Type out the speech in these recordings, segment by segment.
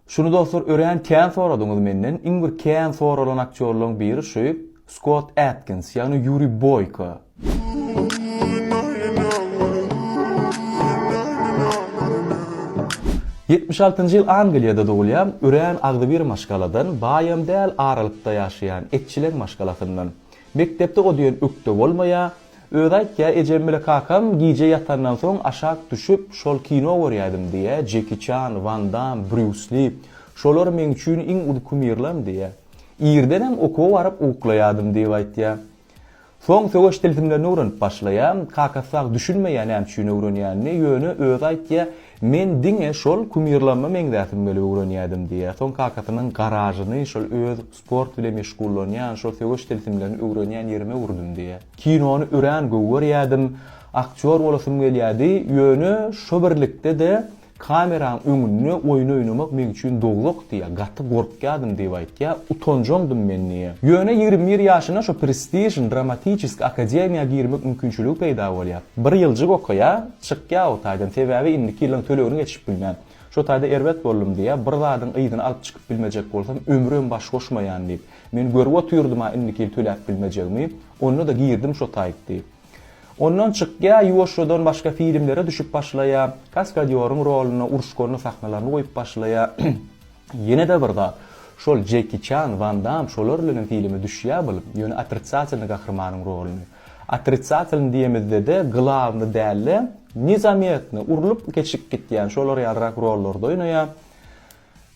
Şuny dostlar örän kän soradyňyz menden, iň bir kän soralan aktýorlaryň biri şu Skott Atkins, ýagny Ýuri Boýko. Ýetmiş altynjy ýyl Angliýada dogulýan, örän agzybir maşgaladan, baýam däl aralykda ýaşaýan, etçileň maşgalasyndan. Mekdepde o diýen ökde bolmaýar, Özi aýtýar, Ejem bile kakam gije ýatandan soň aşak düşüp, şol kino görýädim, diýýär. Jeki Çan, Wan Dam, Brýus Li, şolar meň üçin iň uly kumirlem, diýýär. Irdenem okuwa baryp uklaýardym, diýip aýtýar. Soň söweş tilsimlerini öwrenip başlaýar. Kakasy sag düşünmeýär näme üçin öwrenýänini, ýöne özi aýtýar, Men diňe şol kumirlerime meňzäsim gelip öwrenýädim, diýýär. Soň kakasynyň garažyny şol öz Sport bilen meşgullanýan, şol söweş tilsimlerini öwrenýän ýerime ugrudym diýýär. Kinony örän gowy görýärdim. Aktýor bolasym gelýärdi, ýöne şo birlikde-de kameraň öňünde oýun oýnamak meň üçin dowluk diýýär. Gaty gorkýardym diýip aýtýar. Utanjaňdym men diýýär. Ýöne ýigrimi bir ýaşynda şo prestižni Dramatiçeskiý akademiýa girmek mümkinçiligi peýda bolýar. Bir ýyljyk okaýar, çykýar o taýdan, sebäbi indiki ýylyň tölegini geçirip bilmän. Şo taýda erbet boldum diýýär, bir zadyň yzyny alyp çykyp bilmejek bolsam, ömrem baş goşmaýan diýip. Men görüp otyrdyma indiki ýyl töläp bilmejegimi, onda-da girdim şo taýt diýip. Ondan çykýar, ýuwaşjadan başga filmlere düşüp başlaýar, kaskadýoryň roluna, uruş-gorna sahnalaryny goýup başlaýar. Ýene-de bir zat, şol Jeki Çan, Wan Dam şolar bilenem filme düşýär bul, ýöne otrisiatsioner gahrymanyň roluny. Otritsatelny diýemizde-de glawny däl-de, nezametny, urlup geçip gitýän şolar ýalyrak rollarda oýnaýar.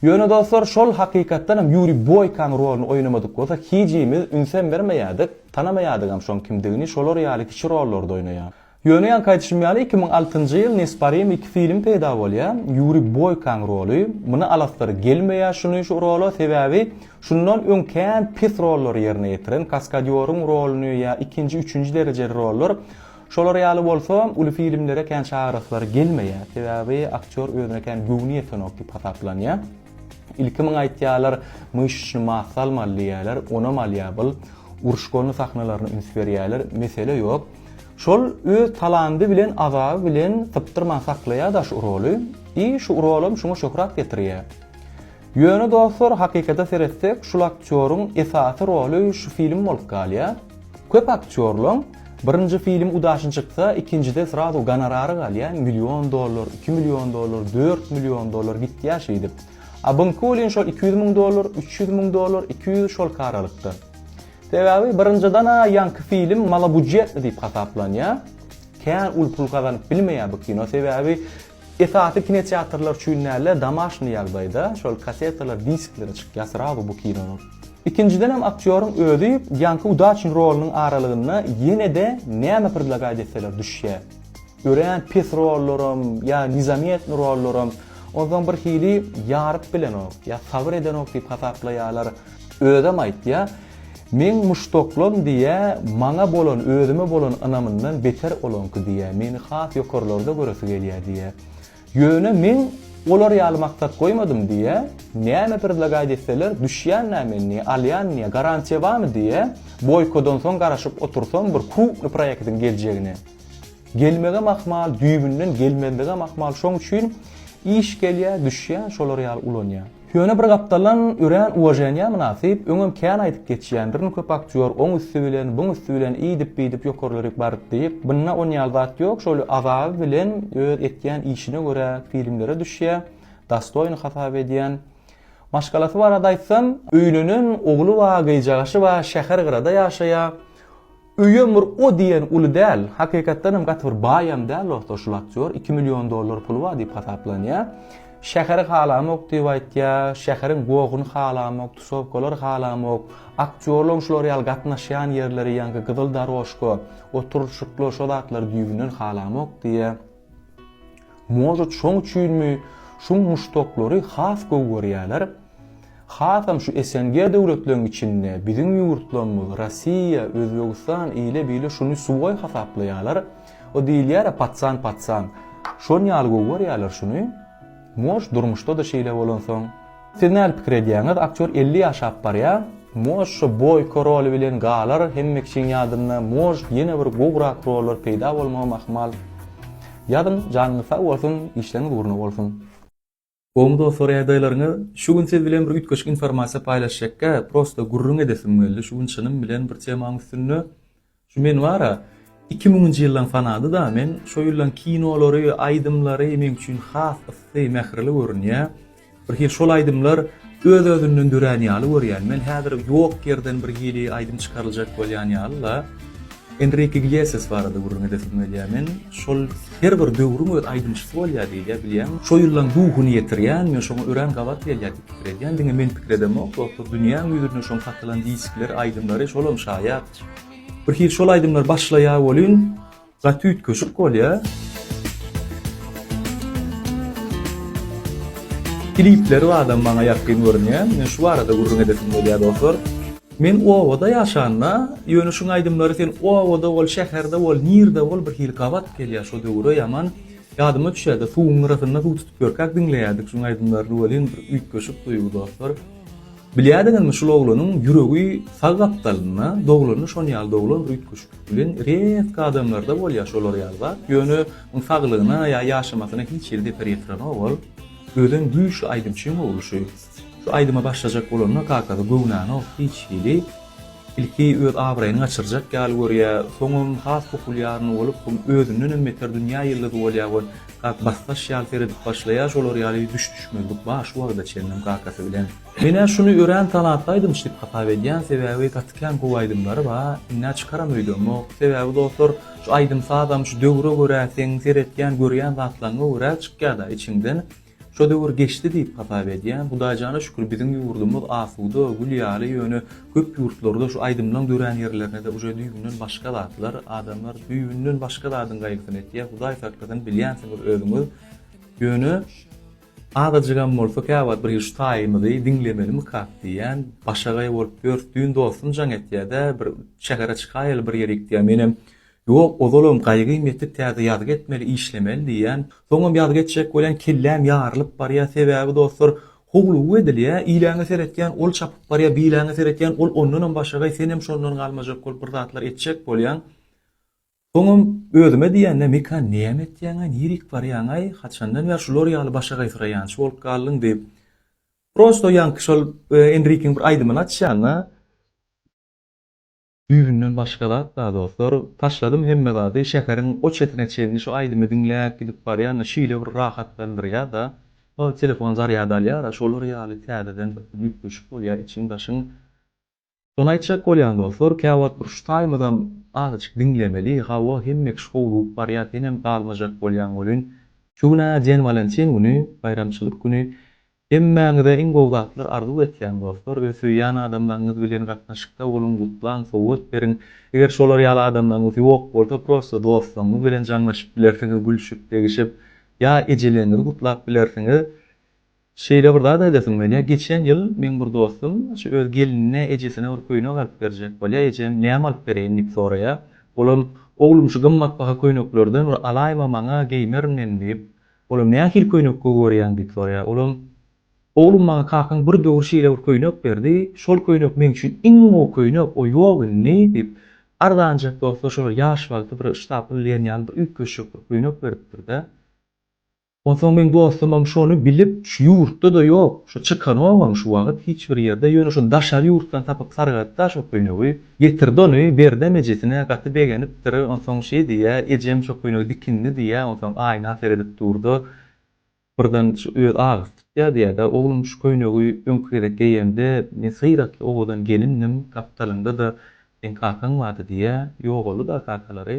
Ýöne dostlar, şol hakykatdan hem Ýuriý Boýkaň roluny oýnamadyk bolsak, hijimiz ünsem bermeýärdik, tanamaýardygam şoň kimdigini, şolar ýaly kiçi rollarda oýnaýar. Ýöne ýaňky aýdyşym ýaly iki müň altynjy ýyl Nesparim iki film peýda bolýar, Ýuriý Boýkaň roly, muny alasylary gelmeýär şuny şu rola, sebäbi Şundan öň kän pes rollary ýerine ýetiren, kaskadýoryň roluny ýa ikinji, üçünji derejeli rollar, şolar ýaly bolsa, uly filmlere kän çagyraslary gelmeýär. Sebäbi aktýor özüne kän göwni ýetenok diýip hasaplanýar. Ilki muňa aýtýarlar, myşyçny massa almaly diýýärler, onam alýar bul. Uruş-golny sahnalaryna üns berýärler, mesele ýok. Şol öz talandy bilen, azaby bilen sypdyrman saklaýar-da şu roly. I şu rolam şuňa şöhrat getirýär. Ýöne dostlar hakykata seretsek şul aktýoryň esasy roly şu film bolup galýa. Köp aktýorlaň birinji film udaşn çyksa ikinjide srazu gonorary galýa million dollar iki million dollar dört million dollar gitýa şeýdip. A buňki welin şol iki ýüz müň dollar üç ýüz müň dollar iki ýüz şolky aralykda. Sebäbi birinjidana ýaňky film malobudjetli diýip hasaplanýa. Kän uly pul gazanyp bilmeýa bu kino sebäbi Esasy kinoteatrlar üçin dälde domaşnyý ýagdaýda şol kasetalar diskleri çykýasr awy bu kinonyň. Ikinjidenem aktýoryň özi Ýanki Udaçin rolynyň aralygynda ýenede näme predlagaýt etseler düşýä. Örän pes rollaram ýa nizametny rollaram onsoň bir hili ýaryp bilenok ýa sabyr edenok diýip hasaplaýalar. Özem aýtýa. Meň muşdaklam diýä maňa bolan özüme bolan ynamyndan beter olaňky diýä meni has ýokarlarda göresi gelýä diýä. Ýöne meň olar ýaly maksat goýmadym diýä näme predlagaýt etseler düşýänä men diýä alýan diýä garantiýa barmy diýä boýkodan soň garaşyp otursam bir krupny proýektiň geljegine gelmegem ahmal düýbünden gelmezligem ahmal şoň üçin iş gelýä düşýä şolar ýaly ulanýa. Ýöne bir gapdalan örän uwaženýa mynasyp, öňem kän aýdyp geçýän, birni köp aktýor, oň üsti bilen, buň üsti bilen iýdip-biýdip ýokarlaryk baryp diýip, bynna on ýaly zat ýok, şol azaby bilen öz etýän işine görä filmlere düşýä, dastoýny hasap edýän. Maşgalasy barada aýtsam, öýlenen, ogly bar, gyjagaşy bar, şäher gyrada ýaşaýa, Öýem bir o diýen uly däl. Hakykatdan hem gaty bir baýam däl dostlar şul aktýor. Iki million dollar puly bar diýip hasaplanýar. Şäheri halamok diýip aýtýar. Şäheriň gohuny halamok, tusowkalary halamok. Aktýorlaryň şular ýaly gatnaşýan ýerleri ýaňky gyzyl darožka, oturyşyklar şo zatlar düýbünden halamok diýýär. Może şoň üçinmi şuň muşdaklary has gowy görýäler? Hasam şu SNG döwletleriň içinde biziň ýurtlarymyz, Rossiýa, Özbegistan ile-bile şuny suwoý hasaplaýalar. O diýilýär-ä patsan patsan. Şon ýaly gowy görýäler şuny. Mož durmuşda-da şeýle bolansoň. Siz nädip pikir edýäňiz aktýor elli ýaşap barýa moj şo boýko roly bilen galar hemme kişiň ýadynda moj ýene bir gowrak rollar peýda bolmagam ahmal ýazyň janyňyz sag bolsun işleriňiz ugruna bolsun. Gowymy dostlar ýagdaýlaryňyz şu gün siz bilen bir üýtgeşik informasiýa paýlaşjakka prosta gürrüň edesim geldi şu gün çynym bilen bir temaň üstünde Şu men bar-a, iki müňünji ýyldan sanady-da, men şo ýyllaň kinolary, aýdymlary meň üçin has yssy, mähirli görünýä. Birhili şol aýdymlar öz-özünden dörän ýaly görýän. Men häzir ýok ýerden birhili aýdym çykaryljak bolýan ýaly-la. Enrike Iglesias barada gürrüň edesim gelýä men. Şol her bir döwrüň öz aýdymçysy bolýar diýilýä, bilýäň. Şo ýyllaň duhuny ýetirýän, men şoňa örän gabat gelýär diýip pikir edýän. Diňe men pikir edemok, dostlar, dünýäň ýüzünde şoň satylan diskleri, aýdymlary, şolam şaýat. Bir hili şol aýdymlar başlaýar welin gaty üýtgeşik bolýar. Klipleri badam maňa ýakyn görünýär. Men şu barada gürrüň edesim gelýär dostlar. Men obada ýaşanda, ýöne şuň aýdymlary sen obada bol, şäherde bol, nirde bol bir hili gabat gelýär şo döwüre ýaman. Ýadyma düşýärde suwuň gyrasynda suw tutup ýörkäk diňleýärdik şuň aýdymlaryny welin bir üýtgeşik duýgy dostlar. Bilýärdiňizmi şul oglanyň ýüregi sag gapdalynda doglanda şon ýaly doglan üýtgeşiklik bilen rezk adamlarda bolýar şolar ýaly zat ýöne oň saglygyna ýa ýaşamasyna hiç hili zeper ýetirenok ol özem güýçli aýdymçyň ogly şu şu aýdyma başlajak bolanda kakasy göwnänok hiç hili Ilki öz abraýyny gaçyrjak ýaly görýä, soňam has populýarny bolup, soň özündenem beter dünýä ýyldyzy bolýa we gak basdaş ýaly seredip başlaýa şolar ýaly düş düşmezlik bar şu wagta çenlem kakasy bilen. Menä şuny örän tanatly aýdymçy diýip hasap edýän sebäbi gaty kän gowy aýdymlary ba innä çykaram öýdemok sebäbi dostlar şu aýdym sazam şu döwre görä seň seretýän görýän zatlaňňa görä çykýada içiňden Şo döwür geçdi diýip hasap edýän. Hudaýjana şükür biziň ýurdumyz asuda, gül ýaly ýöne köp ýurtlarda şu aýdymlaň dörän ýerlerinede uje düýbünden başga zatlar, adamlar düýbünden başga zadyň gaýgysyny etýär, Hudaý saklasyn bilýänsiňiz özüňiz ýöne azajygam bolsa käwagt bir şu taýymyzy diňlemelimikak diýýän, başagaý bolup ýörs düýn dostum jaň etýädä bir şähere çykaýaly bir ýere gitýä menem Ýok, ozalam gaýgym ýetip täze ýazgy etmeli, işlemeli diýýän. Soňam ýazgy etjek bolýan, kelläm ýarylyp barýar, sebäbi dostlar, howlugy edilýär, iläňe seretýän, ol çapyp barýar, biläňe seretýän, ol ondanam başagaý, senem şondan galmajak bolup bir zatlar etjek bolýaň. Soňam özüme diýende, Mekan, näme etýäňaý, nirik barýaňaý, haçandan bäri şular ýaly başagaýsyraýançy bolup galdyň diýip. Prosto ýaňky şol Enrikiň bir aýdymyny açýan-da. Düýbünden başga zat-da dostlar, taşladym hemme zady, şäheriň o çetine çenli şu aýdymy diňläp gidip barýanda şeýle bir rahatlandyrýar-da, ol telefon zarýad alýar-a şolar ýaly täzeden bir üýtgeşik bolýar içiň-daşyň. Şony aýtjak bolýan dostlar, käwagt bir şu taýymyzam azajyk diňlemeli, hawa hemmekiş howlugyp barýar senem galmajak bolýaň welin, şu gün-ä Jen Walentin güni, baýramçylyk güni, Hemmäňize iň gowy zatlar arzuw etýän dostlar, öz söýýän adamlaryňyz bilen gatnaşykda boluň, gutlaň, sowgat beriň. Eger şolar ýaly adamlaryňyz ýok bolsa prosta dostlaryňyz bilen jaňlaşyp bilersiňiz, gülşüp, degişip ýa ejeleňňizi gutlap bilersiňiz. Şeýle bir zat aýdasym gelýär, geçen ýyl meň bir dostum şu öz gelinine, ejesine bir köýnek alyp berjek bolýar, ejem näme alyp bereýin diýip soraýar. Olam, oglum şu gymmatbaha köýneklerden bir alaýma maňa, geýmerin men diýip, Olam nähili köýnek gowy görýäň diýip soraýar. Olam, Oglum maňa kakaň bir döwür şeýle bir köýnek berdi, şol köýnek meň üçin iň gowy köýnek, o ýok indi, diýip, arzanjak bolsa şol ýaş wagty bir ştapl diýen ýaly bir üýtgeşik bir köýnek beripdir-de. Onsoň meň dostumam şony bilip, şu ýurtda-da ýok, şu çykanogam şu wagt hiç bir ýerde, ýöne şony daşary ýurtdan tapyp sargadyp-da şo köýnegi. Getirdi ony, Berdem ejesine gaty begenipdir, onsoň şeý diýýä, Ejem şo köýnegi dikindi diýýä, onsoň aýna seredip dur-da, birden şu öz agysy tutýar diýýär-de, Oglum, şu köýnegi öňki gezek geýemde, men syratly owadan gelindim, gapdalyňda-da seň kakaň bardy diýýä, Ýogaldy-da kakalary.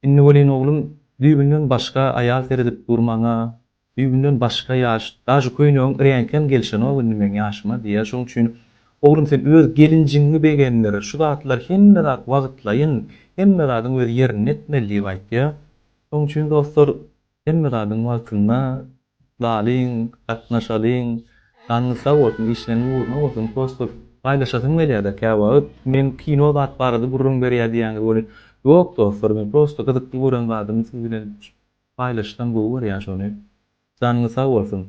Indi welin oglum düýbünden başga aýal seredip dur maňa, düýbünden başga ýaş, dažy köýnegiň reňkem gelşenok indi meň ýaşyma diýýär, şonuň üçin oglum sen öz gelinjigiňi begendir, şu zatlar hemme zat wagtlaýyn, hemme zadyň öz ýerinde etmeli diýip aýtýar. Şonuň üçin dostlar Hemme zadyň wagtynda galyň, gatnaşalyň, janyňyz sag bolsun, işleriňiz ugruna bolsun, prosto paýlaşasym gelýärde käwagt, men kino zat barada gürrüň berýär diýýäňiz welin, ýok dostlar, men prosto gyzykly gören zadymy siz bilen paýlaşsam gowy görýän şony, janyňyz sag bolsun.